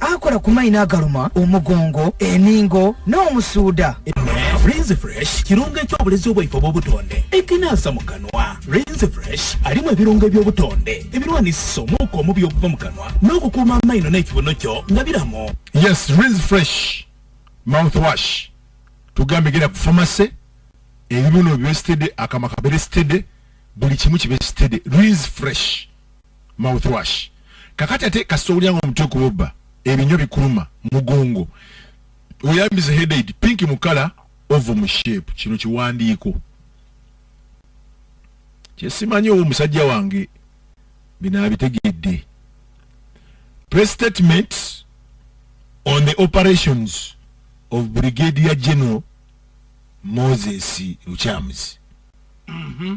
Akola ku mayina agaluma omugongo, eningo n'omusuuda. Rinse Fresh kirungo eky'obulezi obwaife obw'obutonde ekinaasa mu kanwa. Rinse Fresh alimu ebirungo eby'obutonde ebirwanisisa omuuka omubi okuva mu kanwa n'okukuuma amaino n'ekibuno kyo nga biramu. Yes, Rinse Fresh mouthwash tugambe gera ku famase ebibuno bibe sitede akamwa kabere sitede buli kimu kibe sitede Rinse Fresh. mouthwash kakati ate kasita owulira nga omutwe kubobba ebinywa bikuluma mugongo oyambize headaid pink mu kala ovo mu shape kino kiwandiiko kyesimanyi owo omusajja wange binaabitegedde press statement on the operations of brigadier general moses lukyamuzi mm -hmm.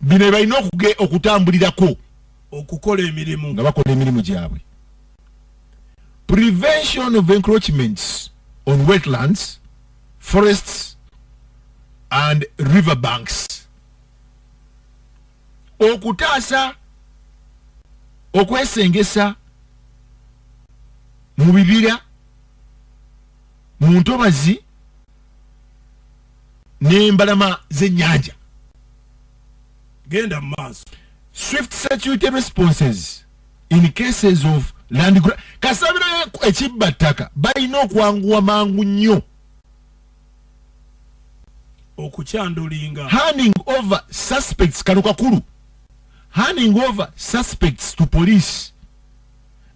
bino ebalina okutambulirako okukola emirimu nga bakola emirimu gyabwe prevention of encroachments on wetlands forests and river banks okutaasa okwesengesa mu bibira mu ntobazi n'embalama z'ennyanja genda maaso swift security responses in cases of land gra kasabira ekibba ttaka balina okwanguwa mangu nnyo okukyandulinga handing over suspects kano kakulu handing over suspects to police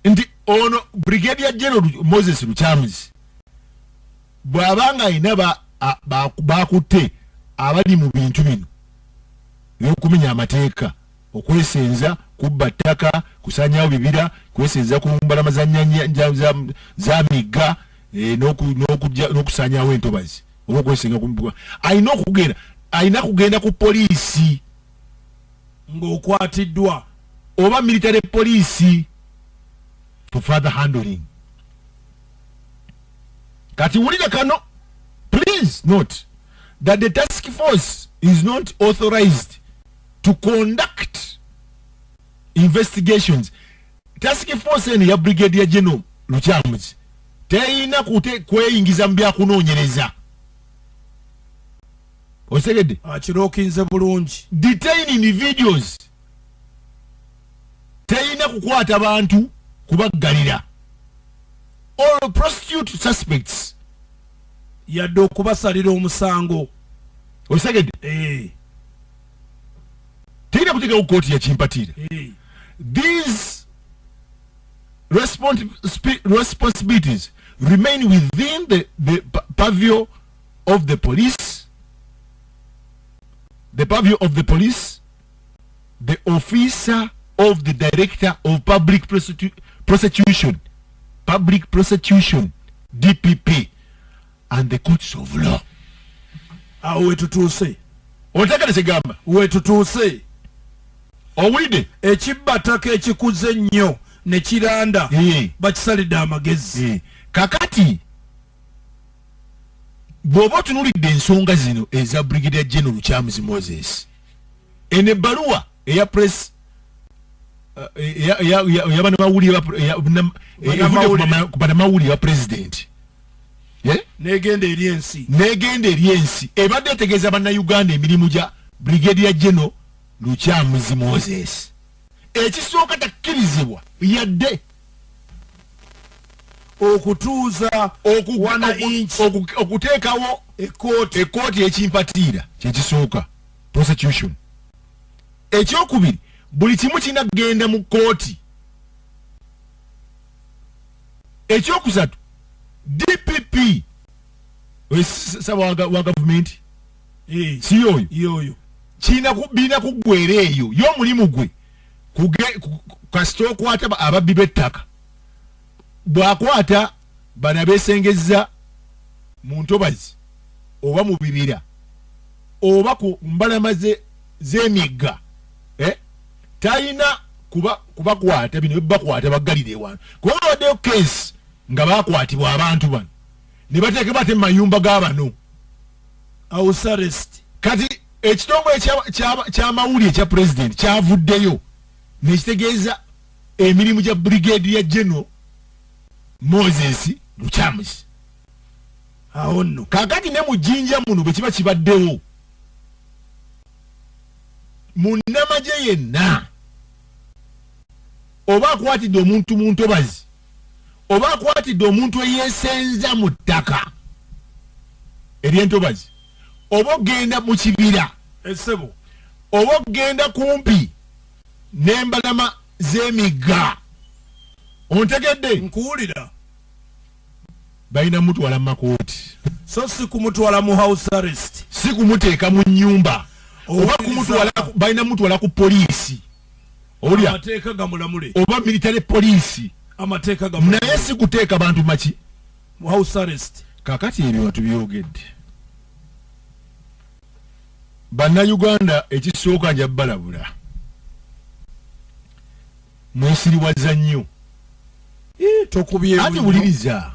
nti ono brigadier general moses lukyamuzi bw'aba ng'alina baakutte abali mu bintu bino eby'okumenya amateeka okwesenza kubba ttaka kusanyawo bibira kwesenza ku mbalama za migga eh, n'okusanyawo entobazi oba okwesenga alina okugenda alina kugenda ku poliisi ng'okwatiddwa oba military poliisi for father handling kati wulire kano please note that the task force is not authorized to conduct investigations task force eno ya brigadier general lukyamuzi teyina kweyingiza mu byakunoonyereza okitegedde akirokinze ah, bulungi detain individuals teyina kukwata bantu kubaggalira or prostitute suspects yadde okubasalira omusango osegedde eh. teyina kutegewo kooti yakimpatiira eh. these responsibilities remain within the, the pavio of the police the pavio of the police the officer of the director of public prosecution public prosecution dpp and the courts of law awo wetutuuse otegere kigamba wetutuuse owulidde ekibbataka ekikuze ennyo ne kiranda eh. bakisalidde amagezi eh. kakati bw'oba otunulidde ensonga zino eza brigadier general charles moses eno ebbaluwa eya press yabanamawulire ba pulezidenti negenda eri ensi negenda eri ensi ebadde etegeeza bannayuganda emirimu gya brigadier general lukyamuzi moses ekisooka takkirizibwa yadde okutuuza okuwana inki okuteekawo ekooti ekooti ekimpatiira kyekisooka prosecution ekyokubiri buli kimu kirina kugenda mu kooti ekyokusatu dpp saba wa gavumenti si yoyo birina kuggwera eyo ye omulimu gwe kasita okwata ababbi b'ettaka bw'akwata bano abeesengezza mu ntobazi oba mu bibira oba ku mbalama z'emigga eh, talina kubakwata bino byebakwata baggalira ewano kuba bawaddeyo keesi nga baakwatibwa abantu bano ne bateekebwa ate mu mayumba ga bano ausarest kati ekitongole kyamawulire kya president kyavuddeyo nekitegeeza emirimu gya brigade ya general moses lucamus awo nno kakati ne mujinja muno bwe kiba kibaddewo munnamagye yenna oba akwatidde omuntu mu ntobazi oba akwatidde omuntu eyesenza mu ttaka eryentobazi oba okugenda mu kibira esebo eh, oba okugenda kumpi n'embalama z'emigga ontegedde nkuwulira balina mutwala mu makooti so si kumutwala mu house arrest si kumuteeka mu nnyumba oba kumutwala balina mutwala ku poliisi olya amateeka gamulamule oba military police amateeka gamulamule naye sikuteeka bantu maki mu house arrest kakati ebyo nga tubyogedde bannayuganda ekisooka nja balabula mwesiriwaza nnyo eh, tokubye ati buliriza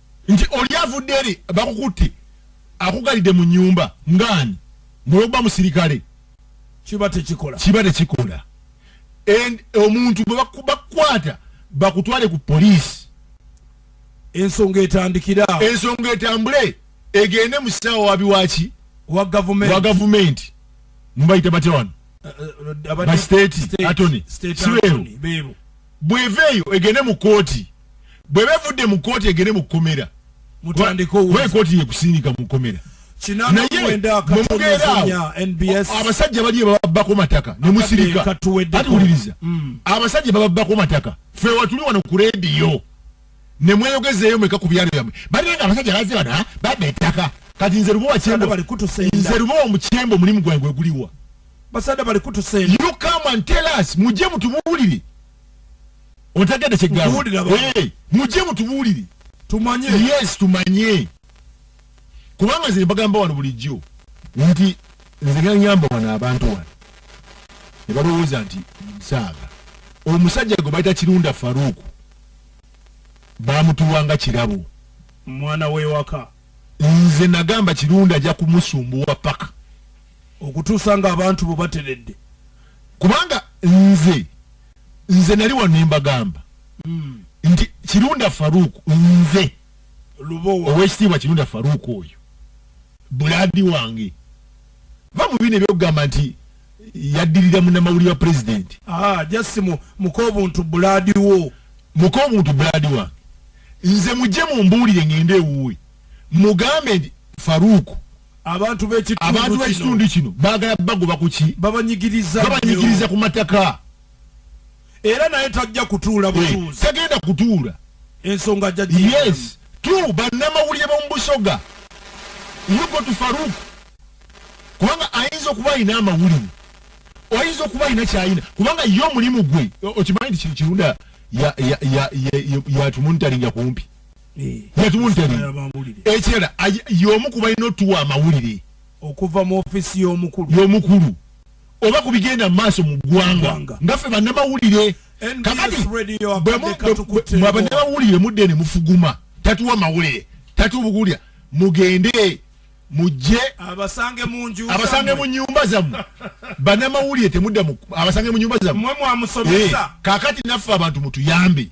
nti oli avudde eri bakukutte akugalidde mu nyumba ngaani mulwokuba musirikale kiba tekikola kiba tekikola and omuntu bwe bakukwata bakutwale ku poliisi ensonga etandikira ensonga etambule egende mu ssaawa wabi waki wa gavumenti mubayita batya wano eh, eh, ba state atony sibeewo bw'eva eyo egende mu kkooti bw'eba evudde mu kkooti egende mu kkomera kkooti yekusindika mu kkomera naye mumugeeraawo abasajja bali ebababbako mataka ne musirika ati wuliriza mm. abasajja bababbako mataka fe watuli wano ku rediyo ne mweyogezeeyo mweka ku byalo byamwe balinga abasajja baze bano ah, babba ettaka kati nze lubowa kyembo nze lubowa mu kyembo omulimu gwange gweguliwa basada bali kutusenda you come and tell us muje mutubulire otegede kigabo hey, muje mutubulire tumanye yes tumanye kubanga nze bagamba wano bulijjo nti nze ganyamba wano abantu wano ne balowooza nti nsaaga omusajja gwe bayita kirunda faruuku bamutuwanga kirabo mwana wewaka nze nagamba kirunda ajja kumusumbuwa paka okutuusa nga abantu bo bateredde kubanga nze nze nali wano nembagamba mm. nti kirunda faruku nze owekitiibwa kirunda faruku oyo buladi wange va mu bino ebyokugamba nti yaddirira munamawulire wa pulezidenti ah, jasi mukobuntu buladi wo mukobuntu buladi wange nze mujje mumbuulire ngende ewuwe mugambe nti faruku Abantu b'ekitundu kino baagala bagoba ku ki? Babanyigiriza ku mataka. Era naye tajja kutuula eh, butuuzi. Tagenda kutuula. Ensonga ajja gye. Yes. Tu bannamawulire b'omu Busoga. Yuko tu Farouk. Kubanga ayinza okuba alina amawulire. Oyinza okuba alina kyayina. Kubanga ye omulimu gwe. Okimanyi nti kirunda yatumunitalinga kumpi. ekirala yomu ku balina otuwa amawulire okuva mu ofisi yomukulu yomukulu oba ku bigenda mu maaso mu ggwanga nga ffe bannamawulire kakati bwabannamawulire mudde ne mufuguma tatuwa mawulire tatubukulira mugende mujje abasange mu nju abasange mu nyumba zamu bana mawulire temudda mu abasange mu nyumba zamu mwe mwamusomesa hey, eh, kakati naffe abantu mutuyambe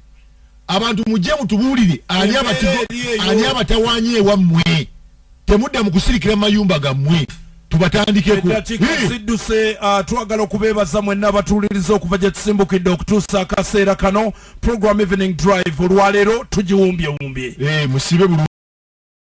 abantu mujje mutubulire ani abatigo ani abatawanye wa mwe temudda mu kusirikira mayumba gamwe tubatandikeko zidduse uh, twagala okubeebaza mwenna abatuwuliriza okuva gye tusimbukidde okutuusa akaseera kano program evening drive olwaleero tugiwumbyewumbye eh, musibe